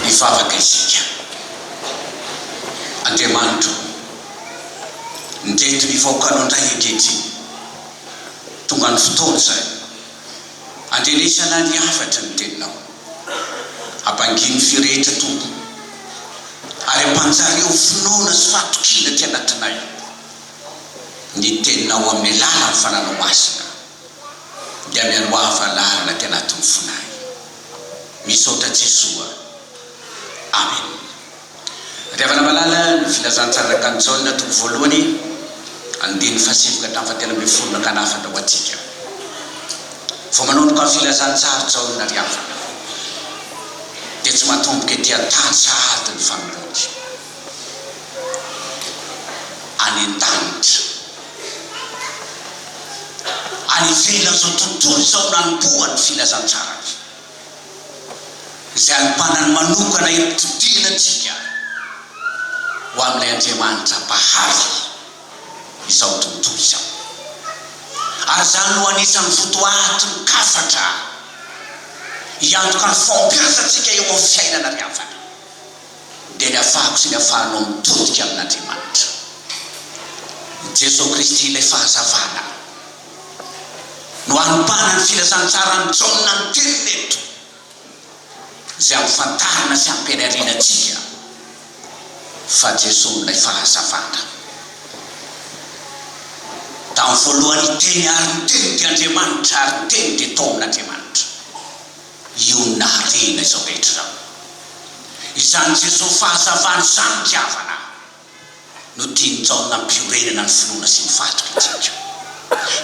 Hivavaka isika. Andriamanitra ô, ndreto ny vahoakanao indray ankehitriny. Tonga ny fotoana izany. Andrenesana ny hafatry ny Teninao. Habangia ny firehetra, Tompo, ary ampanjary eo finoana sy fahatokiana aty anatinay ny Teninao amin'ny alalan'ny Fananao Masina. dia mialoava lalana aty anatin'ny fonay. Misaotra Jesoa. Amen. Andriavana malala ny filazantsara rakan Jaona toko voalohany andininy fahasivy ka hatramin'ny fahatelo ambin'ny folo nankana hafatra ho antsika. Vao manomboka ny filazantsara Jaona ry havana dia tsy matomboka ety an tany sahady ny fanoloany. any an-danitra. Any ivelan'izao tontolo izao nanomboha ny filazantsarany, izay anompanany manokana himpitodihana antsika ho amin'ilay Andriamanitra Mpahary izao tontolo izao. Ary izany no anisan'ny votoaty mikasatra hiantoka ny fahombiazantsika eo amin'ny fiainana ry havana. dia ny afahako sy ny afahanao mitodika amin'Andriamanitra. I Jeso Kristy ilay fahazavana no anompanany ny filazantsaran'i Jaona ny teniny eto, izay ampifantarina sy ampianariana antsika fa Jeso no ilay fahazavana. Tamin'ny voalohany ny Teny ary ny Teny dia Andriamanitra ary ny Teny dia tao amin'Andriamanitra. Io naharena izao rehetra izao. Izany Jesoa fahazavana izany ny havana no tian'i Jaona hampiorenana ny finoana sy ny fahatokiantsika.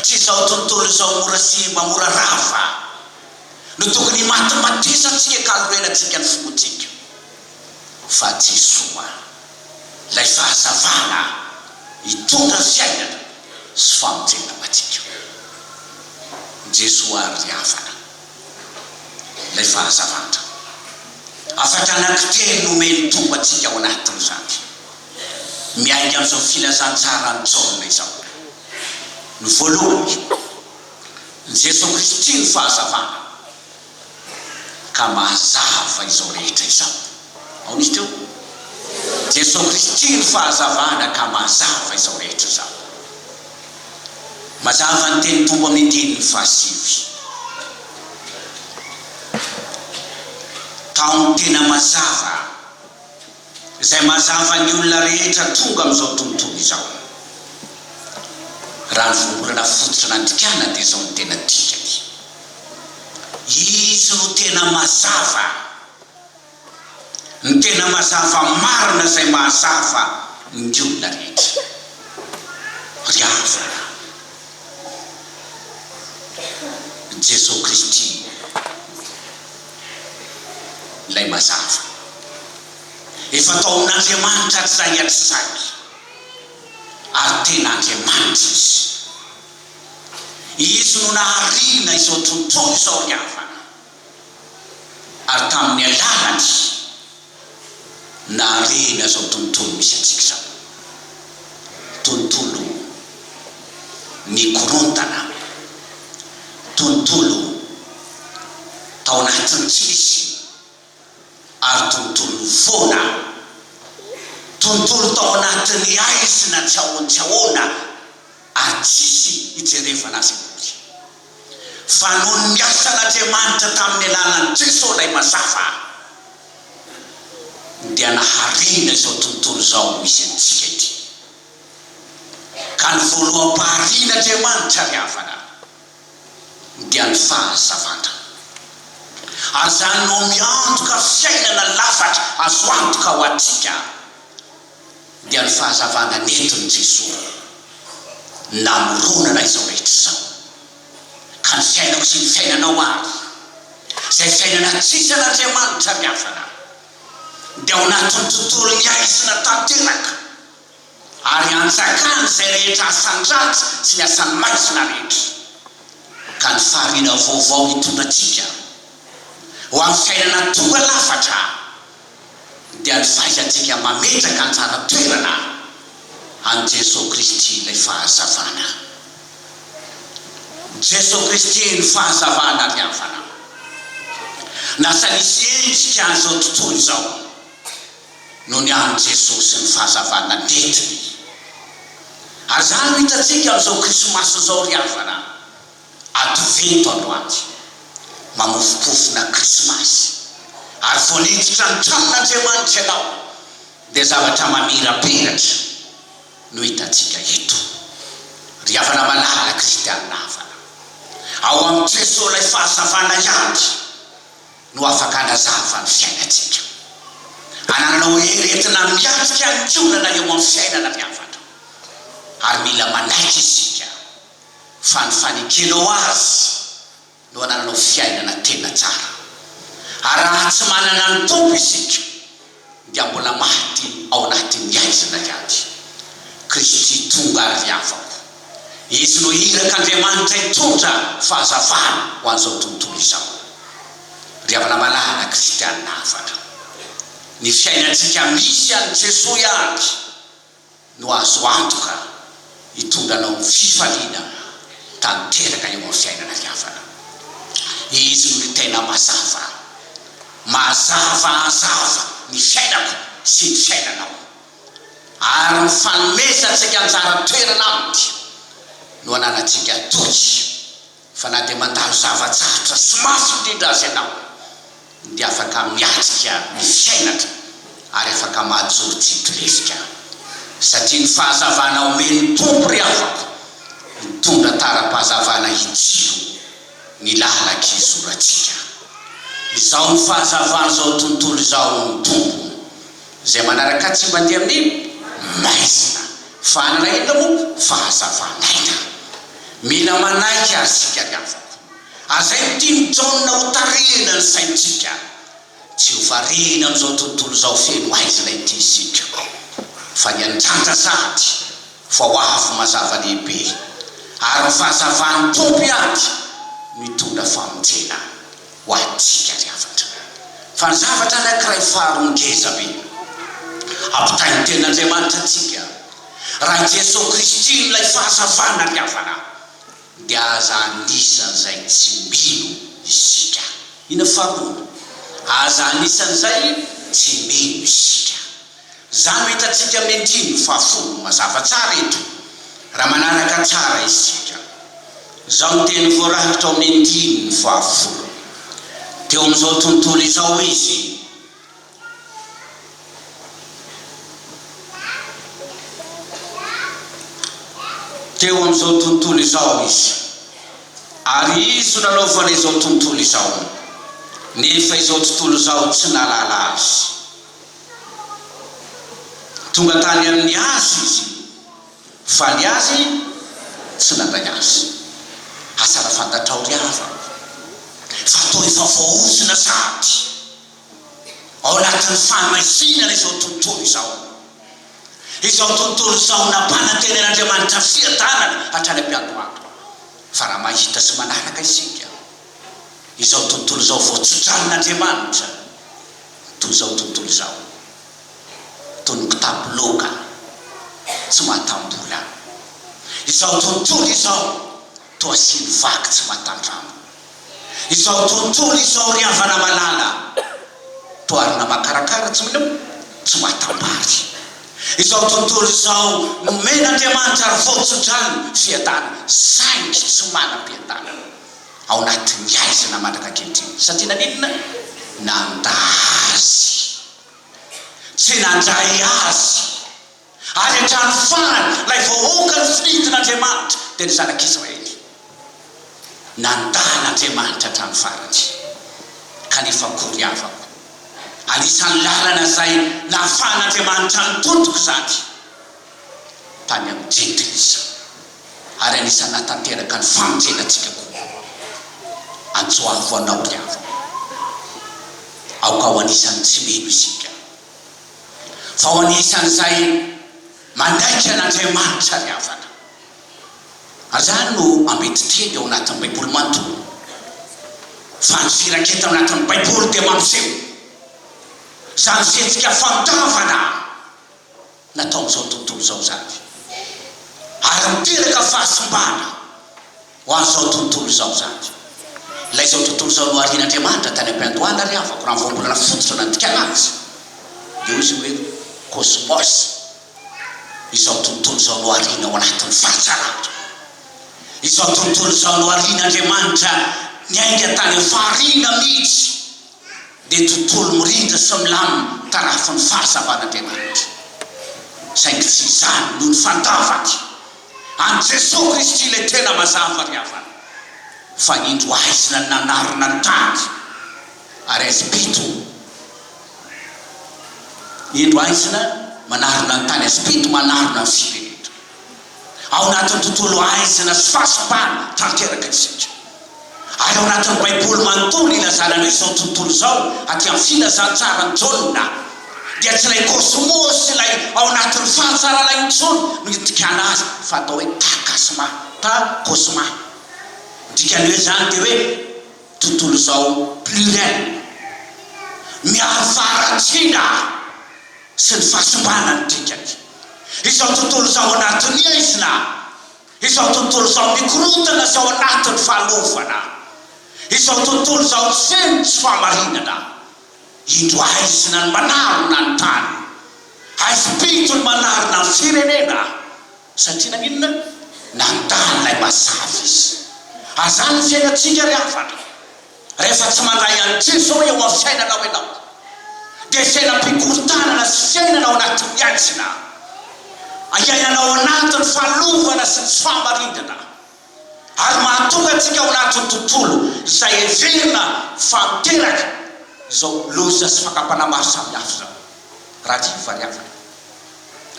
Tsy izao tontolo izao mora simba, mora rava, no tokony himatimatesantsika ka hanorenantsika ny finoantsika, fa Jesoa, ilay fahazavana hitondra ny fiainana sy famonjena ho antsika. Jesoa àry ry havana. ilay fahazavana. Hafatra anankitelo no omen'ny Tompo antsika ao anatin'izany. Miainga amin'izao filazantsaran'i Jaona izao. Ny voalohany, ny Jesoa Kristy no fahazavana ka mahazava izao rehetra izao. Aona izy teo? Jesoa Kristy no fahazavana ka mahazava izao rehetra izao. Mazava ny tenin'ny Tompo amin'ny Andininy fahasivy. Tao ny tena mazava, izay mazava ny olona rehetra tonga amin'izao tontolo izao. Raha ny voambolana fototra nandikana dia izao no tena dikany. Izy no tena mazava. ny tena mazava marina izay mahazava ny olona rehetra. Ry havana, Jesoa Kristy ilay mazava. Efa tao amin'Andriamanitra hatr'izay hatr'izay, ary tena Andriamanitra Izy. Izy no naharina izao tontolo izao, ry havana. ary tamin'ny alàlany nahareny an'izao tontolo misy antsika izao. Tontolo mikorontana, tontolo tao anatin'ny tsy misy ary tontolo foana, tontolo tao anatin'ny haizina tsy ahoan-tsy ahoana ary tsisy ijerevana azy akory. Fa noho ny niasan'Andriamanitra tamin'ny alalan'i Jesoa ilay Mazava, dia naharinina izao tontolo izao misy antsika ity. Ka ny voaloham-paharian'Andriamanitra ry havana, dia ny fahazavana. Ary izany no miantoka fiainana lafatra azo antoka ho antsika. dia ny fahazavana nentin'i Jesoa namoronana izao rehetra izao, ka ny fiainako sy ny fiainanao ary izay fiainana tsisy an'Andriamanitra miafina dia ao anatin'ny tontolon'ny haizina tanteraka ary anjakan' izay rehetra asan-dratsy sy ny asan'ny maizina rehetra, ka ny fahariana vaovao hitondra antsika ho amin'ny fiainana tonga lafatra. dia ny fahaiza-ntsika mametraka anjara toerana an'i Jeso Kristy ilay fahazavana. Jeso Kristy ny fahazavana avy amin'ny Fanahy. Lasa nisy endrika an'izao tontolo izao noho ny an'i Jeso sy ny fahazavana nentiny. Ary izany no hitantsika amin'izao Krismasy izao ry havana. Advento androany, mamofompofona Krismasy, ary vao niditra ny tranon'Andriamanitra ianao dia zavatra mamirapiratra no hitantsika eto. Ry havana malala kristianina havana, ao amin'i Jesoa ilay fahazavana ihany no afaka hanazava ny fiainantsika. Anananao hery entina miatrika ny olana eo amin'ny fiainana ry havana, ary mila manaiky isika. Fa ny fanekenao Azy no anananao fiainana tena tsara. Ary raha tsy manana ny Tompo isika, dia mbola maty ao anatin'ny haizina ihany. Kristy tonga ry havako. Izy no irak'Andriamanitra hitondra fahazavana ho an'izao tontolo izao. Ry havana malala Kristiana hafatra, ny fiainantsika misy an'i Jesoa ihany. no azo antoka hitondra anao amin'ny fifaliana tanteraka eo amin'ny fiainana diavana. Izy no ny tena mazava. Mazavazava ny fiainako sy ny fiainanao. Ary ny fanomezantsika anjara toerana aminy no ananantsika toky. Fa na dia mandalo zava-tsarotra sy mafy indrindra aza ianao, dia afaka miatrika ny fiainana ary afaka mahajoro tsy hitoriefika, satria ny fahazavana omen'ny Tompo ry havako mitondra tara-pahazavana hitsilo ny lalan-kizorantsika. Izao no fahazavan'izao tontolo izao, hoy ny Tompo, Izay manaraka tsy mandeha amin'ny maizina. Fa hanana inona moa fahazavana aina? Mila manaiky ary isika ny havako. Aza entian'i Jaona hotarihina ny saintsika. Tsy ho variana amin'izao tontolo izao feno aizina ity isika. Fa ny andrandra sahady fa ho avy mazava lehibe. Ary ny fahazavan'ny Tompo ihany no hitondra famonjena. ho antsika ny hafatra. Fa ny zavatra anankiray faharoa ngeza be ampitain'ny Tenin'Andriamanitra antsika, raha i Jesoa Kristy no ilay fahazavana ary hafana, dia aza anisan'izay tsy mino isika. Inona faharoa? Aza anisan'izay tsy mino isika. Izany no hitantsika amin'ny andininy fahafolo mazava tsara eto, raha manaraka tsara isika izao ny teny voarakitra ao amin'ny andininy fahafolo. Teo amin'izao tontolo izao izy. Teo amin'izao tontolo izao izy. Ary izy no nanaovana izao tontolo izao, nefa izao tontolo izao tsy nahalala azy. Tonga tany amin'ny azy izy, fa ny azy tsy nandray azy. Asa raha fantatrao ry havana, fa toa efa voaozona sahady ao anatin'ny fahamaizina izao tontolo izao, izao tontolo izao nampanantenen'Andriamanitra fiadanana hatrany am-piandohana. Fa raha mahita sy manaraka isika izao tontolo izao voatsodranin'Andriamanitra, toy izao tontolo izao, toy ny kitapo loaka tsy matam-bola. Izao tontolo izao toa siny vaky tsy matan-drambo. Izao tontolo izao ry havana malala, toa arina makarakara tsy miloa, tsy matam-bary. Izao tontolo izao nomen'Andriamanitra ary vao tso-drano, fiadanana, saingy tsy manam-piadanana. Ao anatin'ny aiza na mandraka ankehitriny? Satria naninona? Nanda azy. Tsy nandray azy. Ary hatrany farany, ilay vahoaka nofidian'Andriamanitra, dia ny zanak'Israely. Nanda an'Andriamanitra hatrany farany. Kanefa akory havako, anisan'ny lalana izay nahafahan'Andriamanitra nitontoko izany. tany amin'ny Gendry izy, ary anisan'ny nahatanteraka ny famonjenantsika koa. Antsoavo anao ry havana, aoka ho anisan'ny tsy mino isika, fa ho anisan'izay manaiky an'Andriamanitra ry havana. Ary izany no ambetin-teny ao anatin'ny Baiboly manontolo, fa ny firaketana ao anatin'ny Baiboly dia mampiseho izany fihetsika fandavana. natao amin'izao tontolo izao izany, ary miteraka fahasimbana ho an'izao tontolo izao izany. Ilay izao tontolo izao noharian'Andriamanitra tany am-piandohana ry havako, raha ny voambolana fototra izao nandikana azy, dia hoy izy hoe kôsmôs, izao tontolo izao nohariana ao anatin'ny faritra lavitra. Izao tontolo izao noharian'Andriamanitra niainga tany amin'ny fahariana mihitsy. dia tontolo mirindra sy milamina tarafin'ny fahazavan'Andriamanitra. Saingy tsy izany no nifantavany. An'i Jesoa Kristy ilay tena mazava ry havana, fa indro aizina ny nanarina ny tany, ary azim-pito, indro aizina manarina ny tany, azim-pito manarina ny firenena. Ao anatin'ny tontolo aizina sy fahasambarana tanteraka isika. Ary ao anatin'ny Baiboly manontolo ilazana an'io izao tontolo izao, aty amin'ny Filazantsaran'i Jaona, dia tsy ilay kôsmôsy ilay ao anatin'ny fahatsarana intsony no itikana azy fa atao hoe ta kasma, ta kôsma. Ny dikan'ny hoe izany dia hoe tontolo izao pluriel, miaro faharatsiana. sy ny fahasimbana ny dikany. Izao tontolo izao anatin'ny aizina, izao tontolo izao mikorontana sy ao anatin'ny fahalovana, izao tontolo izao tsy feno tsy fahamarinana, indro aizina ny manarona ny tany, aizim-pito ny manarona ny firenena, Satria naninona? Nandà an'ilay mazava izy. Azany ny fiainantsika ry havana. Rehefa tsy mandray an'Drivo izao eo amin'ny fiainanao ianao, dia fiainam-pikorontanana sy fiainana ao anatin'ny aizina. Iainana ao anatin'ny fahalovana sy ny tsy fahamarindana. ary mahatonga antsika ao anatin'ny tontolo izay heverina fa miteraka izao loza sy fakam-panahy maro samihafa izao raha tsy fivariavana.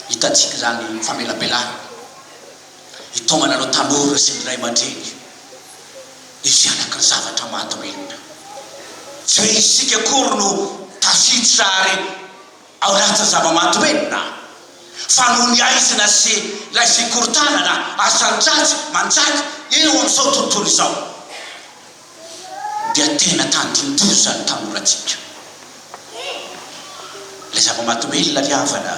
Hitantsika izany famelabelana hitaomana ireo tanora sy ny ray aman-dreny hisy hanaky ny zavatra mahadomelina. Tsy hoe isika akory no tafiditra ary. Ao ratsy zava-maty hoe na. Fa noho ny aizina sy ilay fikorontanana asan-dratsy manjaka eo amin'izao tontolo izao dia tena tandindoza ny tanorantsika. Ilay zava-maty hoe ilay havana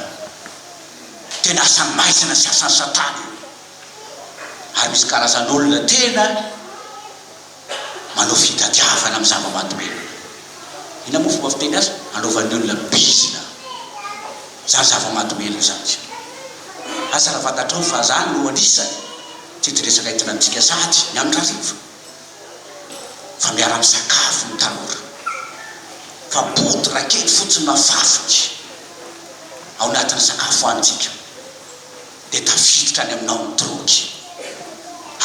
tena asan'ny maizina sy asan'i Satana io. Ary misy karazan'olona tena. manao fitadiavana amin'ny zava-mahadomelina. Inona moa fomba fiteny azy? Anaovan'ny olona bizina izany zava-mahadomelina izany. Asa raha fantatrao fa izany no anisany teti-dresaka entinantsika sahady ny amin-dRarivo fa miara-misakafo ny tanora fa bodo rakety fotsiny mafafy ao anatin'ny sakafo hohanintsika. dia tafiditra any aminao ny drogue.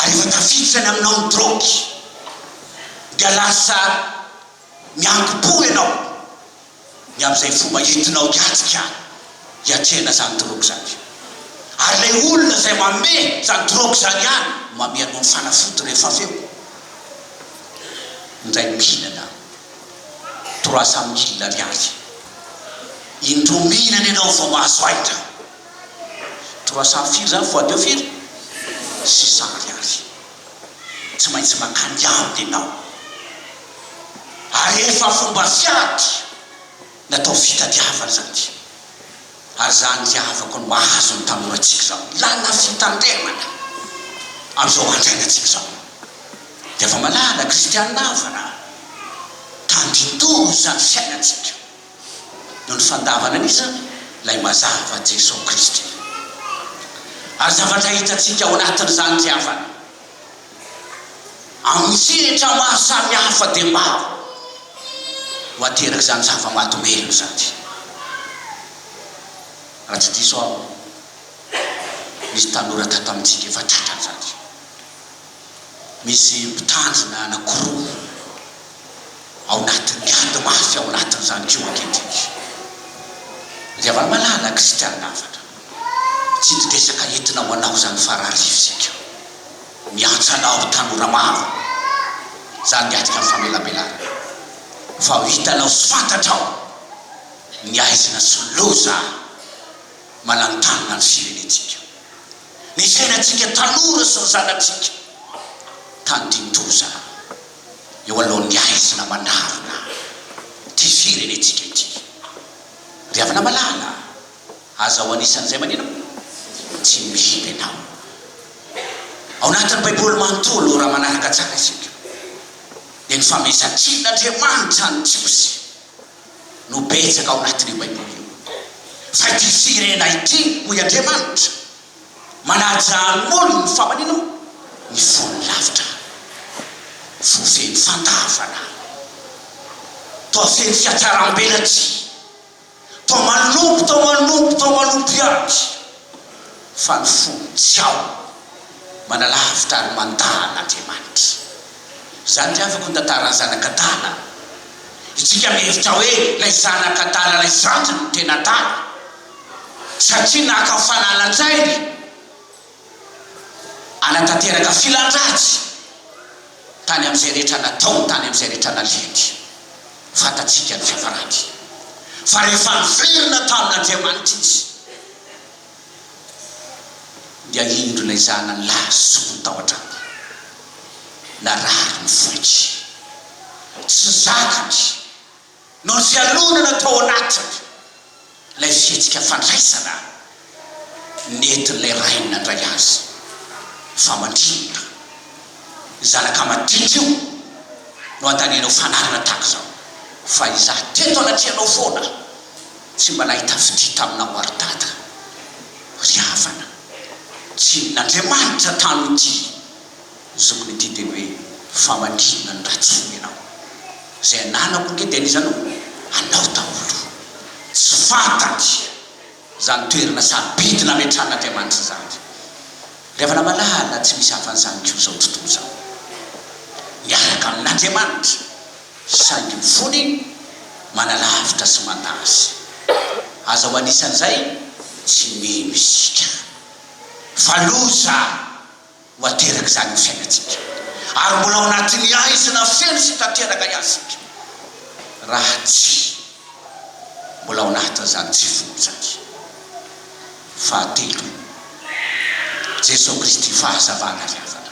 Ary rehefa tafiditra any aminao ny drogue dia lasa mianki-po ianao ny amin'izay fomba entinao hiatrika, hiatrehana izany drogue izany. Ary ilay olona izay manome izany drogue izany ihany no manome anao ny fanafody rehefa avy eo. Indray mihinana trois cent mille ariary, indroa mihinana ianao vao mahazo aina. Trois cent firy zany fois deux firy? Six cent ariary. Tsy maintsy maka ny ady enao. Ary efa fomba fiady natao fitadiavana izany ity. Ary za ny havako no ahazo ny tanorantsika zao. Ilana fitandremana amizao andro iainantsika zao. Dia fa malala Christiane Avana a. Tandindoha izany fiainantsika. noho ny fandavana an'isa Ilay mazava, Jesosy Kristy. Ary zavatra hitantsika ao anatin'izany tsy hafa ny amin'ny sehatra maro samihafa dia maro no aterak'izany zava-mahadomelina izany. Raha tsy diso aho, nisy tanora tato amintsika efa tratran'izany. Misy mpitandrina anankiroa ao anatin'ny garde mafy ao anatin'izany koa ankehitriny. Ry havana malala, kristianina hafatra, tsy nidesaka entina ho anao izany fararivo izay koa. Miantsa anao tanora maro izany miatrika ny famelabelana fa ho hitanao sy fantatrao ny aizina sy ny loza mananontanona ny firenentsika. ny fiainantsika tanora sy ny zanatsika tandindoza eo alohan'ny haizina manarona ity firenentsika ity. Ry havana malala a! Aza ho anisan'izay maninona? Tsy mino ianao. Ao anatin'ny Baiboly manontolo, raha manaraka tsara isika, dia nifamesan-tsin'Andriamanitra an'i Jiosy. no betsaka ao anatin'io Baiboly io. Fa ity firena ity, hoy Andriamanitra, manaja ny molony fa manin o? Ny fony lavitra. Fo feno fandavana. Toa feno fiatsaram-belatsihy. Toa manompo, toa manompo, toa manompo ihany. Fa ny fony tsy ao. Manalavitra ary mandà an'Andriamanitra. Izany dia avako ny tantaran'ny zanak'adala. Isika mihevitra hoe ilay zanak'adala ilay zandriny no tena adala satria naka ny fananan-jainy hanatanteraka filan-dratsy tany amin'izay rehetra nataony, tany amin'izay rehetra nalehany. Fantatsika ny fiafarany fa rehefa niverina tamin'Andriamanitra izy. dia indro ilay zanany lahy zoky tao an-trano. Narary ny vohitry. Tsy zakany. Nojalonana tao anatiny ilay fihetsika fandraisana nentin'ilay rainy nandray azy. Fa mandrinona? Zanaka madinika io no antanenao fanarina tahaka izao. Fa izaho teto anatrehanao foana. Tsy mba nahita fitia taminao ary Dada. Ry havana, tsy inona Andriamanitra tano ity zokiny ity teny hoe famadihana ny ratsy fo ianao. Izay ananako ange dia an'iza no anao daholo. Tsy fantany izany toerana sarobidy nametran'Andriamanitra izany. Ry havana malala tsy misy hafa an'izany koa izao tontolo izao. Miaraka amin'Andriamanitra. Saingy ny fony manalavitra sy manta azy. Aza ho anisan'izay tsy mino isika. Fa loza ho aterak'izany ny fiainantsika. Ary mbola ao anatin'ny haizina feno sy tanteraka ihany isika, raha tsy mbola ao anatin'izany tsy folo izany. Fahatelo, Jesoa Kristy fahazavana ry havana.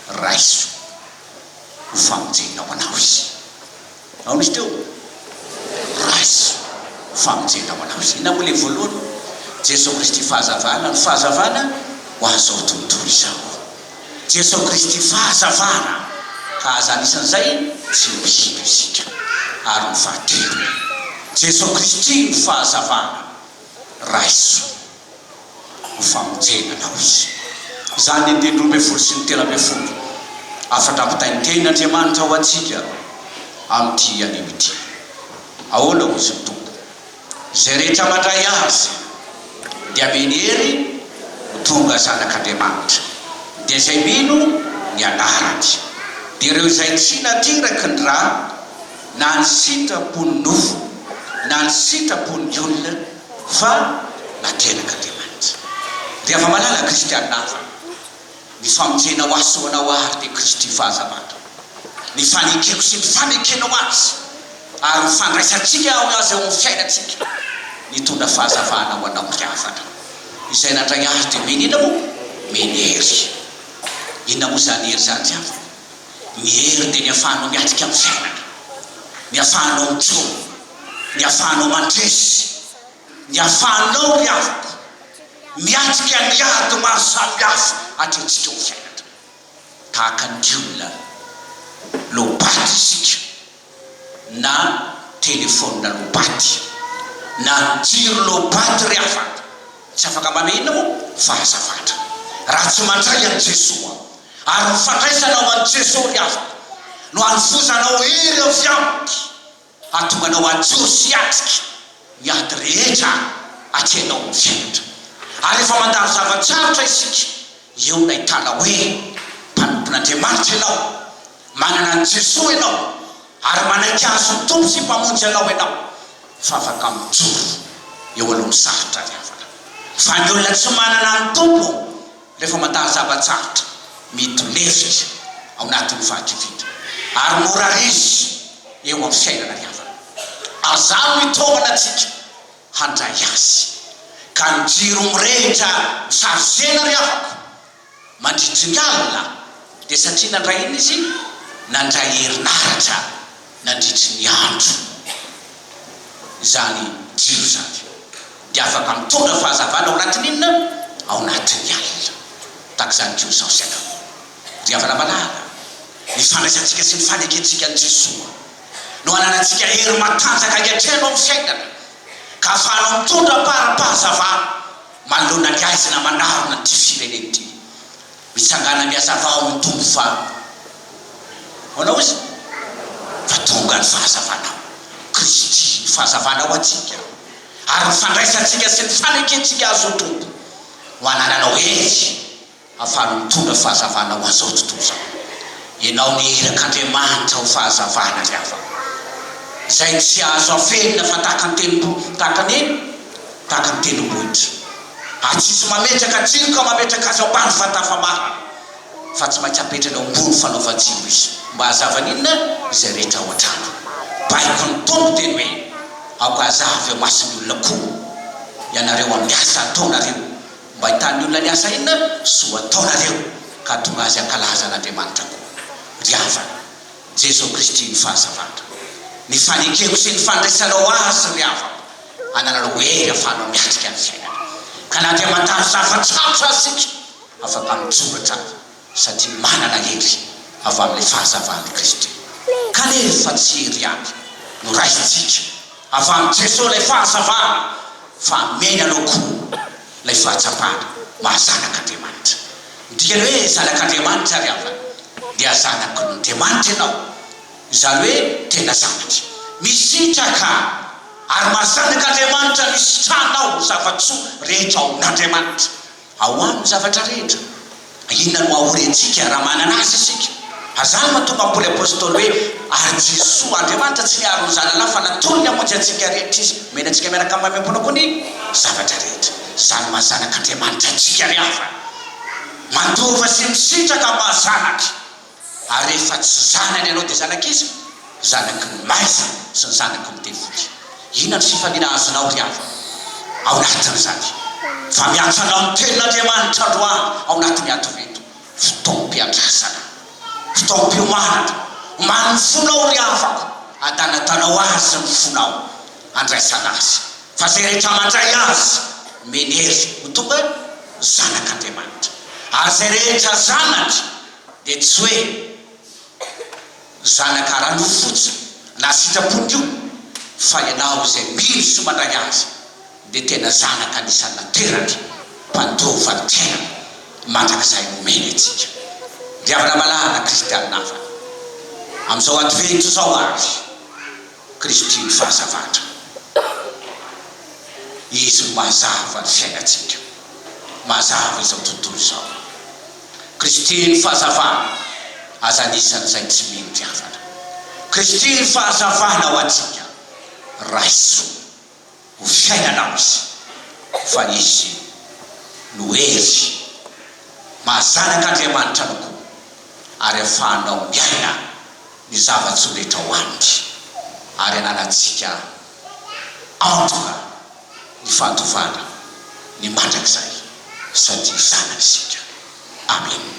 Raiso ho famonjena ho anao Izy. Aona izy teo? Raiso ho famonjena ho anao Izy. Inona moa ilay voalohany? Jeso Kristy fahazavana. Ny fahazavana ho an'izao tontolo izao. Jeso Kristy fahazavana. Hahaza ny isan'izay tsy ho hita isika. Ary ny fahatelony. Jeso Kristy no fahazavana. Raiso. ho famonjena na ozy. Izany ny andininy roa ambin'ny folo sy ny telo ambin'ny folo hafatra ampitaintenin' Andriamanitra ho antsika amin'ity anio ity. Ahoana hozy ny Tompo? Izay rehetra mandray Azy dia ameny hery ho tonga zanak' Andriamanitra, dia izay mino ny anarany, dia ireo izay tsy nateraky ny ra, na ny sitrapon' ny nofo, na ny sitrapon' ny olona, Fa na tenaka dia mantsy dia afa-malala kristianina hafa ny famonjena ho ahy sy ho anao ary dia Kristy fahazavako ny fanekeko sy ny fanekenao azy ary ho fandraisantsika ao azy ao amin'ny fiainantsika nitondra fahazavana ho anao ry havana izay nandray ahy dia mino inona moa mino hery inona moa izany hery izany ry havana ny hery dia ny afahanao miatrika amin'ny fiainana ny afahanao mitsoa Ny afahanao mandresy, ny afahanao ry havako miatrika ny ady maro samihafa atrehintsika ho fiainana. Tahaka ny olona low-bat isika, na telefaonina low-bat, na jiro low-bat ry havako. Tsy afaka manao inona moa fa lasa fatra raha tsy mandray an'i Jesoa. Ary ny fandraisanao an'i Jesoa ry havako no hanovozanao hery avy Aminy. Hahatonga anao hajoro sy hiatrika ny ady rehetra atianao ny fianatra. Ary rehefa mandalo zava-tsarotra isika, eo ilay tana hoe, Mpanompon'Andriamanitra ianao, manana an'i Jesoa ianao, ary manaiky azy ho Tompo sy Mpamonjy anao ianao, fa afaka mijoro eo alohan'ny sarotra ny havana. Fa ny olona tsy manana ny Tompo, Rehefa mandalo zava-tsarotra, mety lefitra izy ao anatin'ny fahakiviana ary mora raiso eo amin'ny fiainana ny havany. Azaho ny tohana antsika handray azy, ka ny jiro mirehitra misavozena ry havako, mandritry ny alina, dia satria nandray inona izy? Nandray herinaratra. nandritry ny andro izany jiro izany dia afaka mitondra fahazavana ao anatin'ny inona? Ao anatin'ny alina. Tahaka izany koa izao isika angaha. Ry havana malala, ny fandraisantsika sy ny fanekentsika an'i Jesoa no ananantsika hery matanjaka ankehitriny ao amin'ny fiainana ka ahafahanao mitondra am-paharampahazavana manoloana ny haizina manarona an'ity firenena ity. Mitsangàna miasa fa ao ny Tompo fa ahoana hoy izy? Fa tonga ny fahazavana, Kristy ny fahazavana ho antsika, ary ny fandraisantsika sy ny fanekentsika Azy ho Tompo no anananao hery ahafahanao mitondra fahazavana ho an'izao tontolo izao. Ianao ny irak' Andriamanitra ho fahazavana ry havana, izay tsy azo afenina fa tahaka ny tenim-bohitra, tahaka ny, tahaka ny tendrombohitra. ary tsy tsy mametraka tsilo ka mametraka azy ao ambany vata famahana fa tsy maintsy apetrany ao ambony fanaovan-tsilo izy mba hazavany inona izay rehetra ao an-trano baiko ny Tompo teny hoe aoka hazava eo mason'ny olona koa ianareo amin'ny asa ataonareo mba hitan'ny olona ny asa inona soa ataonareo ka hatonga azy hankalaza an'Andriamanitra koa ry havana Jeso Kristy ny fahazavana ny fanekeko sy ny fandraisanao azy ry havako hanana ny hoe ahafahanao miatrika ny fiainana. Ka na dia mandalo zava-tsarotra aza isika, afaka mitsoratra satria manana hery avy amin'ilay fahazavan'i Kristy. Kanefa tsy hery ihany no raisintsika avy amin'i Jesoa ilay fahazavana fa ameny anao koa ilay fahatsapana maha zanak'Andriamanitra. Ny dikany hoe zanak'Andriamanitra ary havana dia zanak'Andriamanitra ianao, izany hoe tena zanatry. Misitraka. Ary mahazanaka Andriamanitra misitranao ny zava-tsoa rehetra ao amin'Andriamanitra. Ao Aminy ny zavatra rehetra. Inona no ahory antsika raha manana Azy isika? Ary izany no mahatonga ny Paoly Apostoly hoe, Ary Jesoa, Andriamanitra tsy niaro ny Zanany fa natolony hamonjy antsika rehetra Izy, omeny antsika miaraka amin'ny maimaim-pony koa ny zavatra rehetra. Izany mahazanaka Andriamanitra antsika ry havana. Mandova sy misitraka amin'ny maha zanaka. Ary rehefa tsy zanany ianao dia zanak'iza? Zanaky ny maiza sy ny zanaky ny devoly? Inona ny fifaliana azonao ry havana ao anatin'izany? Fa miantso anao ny Tenin'Andriamanitra androany ao anatin'ny atoveto, fotoam-piandrasana, fotoam-piomanana. Omano ny fonao ry havako, adanadanao Azy ny fonao, andraisana Azy. Fa izay rehetra mandray Azy, menery ho tonga zanak'Andriamanitra. Ary izay rehetra zanany, Dia tsy hoe zanaka ara-nofo fotsiny na sitrapony koa, fa ianao izay mino sy mandray Azy dia tena zanaka anisan'ny nateraka mpandova ny tenany mandrakizay nomeny antsika. Diavina malala kristiana havana, amin'izao advento izao ary, Kristy ny fahazavatra. Izy no mazava ny fiainantsika, mazava izao tontolo izao. Kristy ny fahazavana, aza anisan' izay tsy mino diavana. Kristy ny fahazavana ho antsika, raiso. ho fiainana azy fa izy no hery maha zanak'Andriamanitra no koa ary afahanao miaina ny zava-tsoa rehetra ao aminy ary ananantsika antoka ny fantovana ny mandrakizay satria zanany isika. Amena.